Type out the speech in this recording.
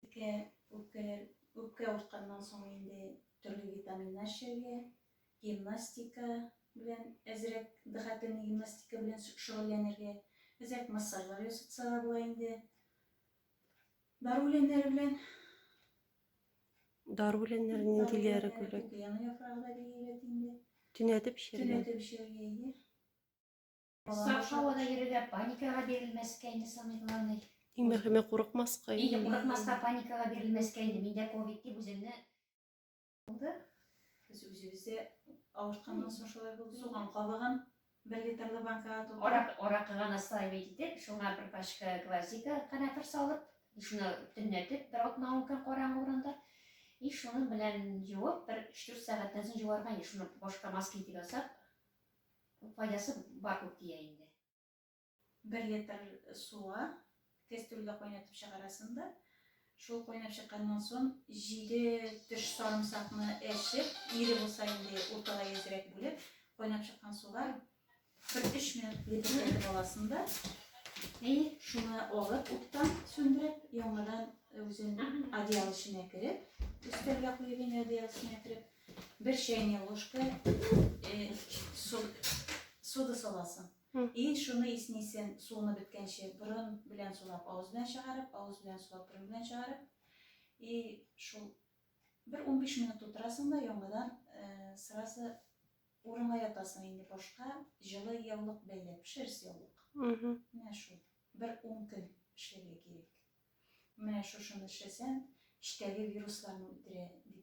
Үпкә, үпкә, үпкә авыртканнан соң инде төрле витаминнар эчәргә, гимнастика белән әзрәк дыхательный гимнастика белән шөгыльләнергә, әзрәк массажлар ясатса да була инде. Дару үләннәре белән Дару үләннәре ниндиләре күбрәк? Яны яфрагы да бик әйбәт инде. Төнәтеп эчәргә. Төнәтеп эчәргә, әйе. Балалар һавада йөрергә, паникага бирелмәскә инде самый главный. Иң мөһиме курыкмаска. Инде курыкмаска, паникага бирелмәскә инде. Миндә ковид дип үземне булды. Без үзебездә авыртканнан соң шулай булды. Суган кабыгын бер литрлы банкага тутырып. Арак, аракыга наслаивать итеп, шуңа бер пачка гвоздика канәфер салып, шуны төнләтеп, бер атна ун көн караңгы урында. И шуның белән җуып, бер 3-4 сәгатьтән соң җуарга, шуны башка маска итеп ясап, Файдасы бар күп дия инде. Бер литр суга кәстрүлдә кайнатып чыгарасың да, шул кайнап чыкканнан сон җиде төш сарымсакны әчеп, ире булса инде урталай әзрәк бүлеп, кайнап чыккан суга бер өч минут лепертәтеп аласың да, и шуны алып уттан сүндереп, яңадан үзен одеял эченә кереп, өстәлгә куеп инде одеял эченә кереп, Бер чәйнек ложка э, сода саласың. И шуны иснисен суны беткәнче борын белән сулап, авыз белән чыгарып, авыз белән сулап, борын белән чыгарып. И шул бер 15 минут утырасың да яңадан э, сразу урынга ятасың инде башка җылы яулык бәйләп, шерсть яулык. Менә шул. Бер 10 көн эшләргә кирәк. Менә шушыны эшләсәң, эчтәге вирусларны үтерә дип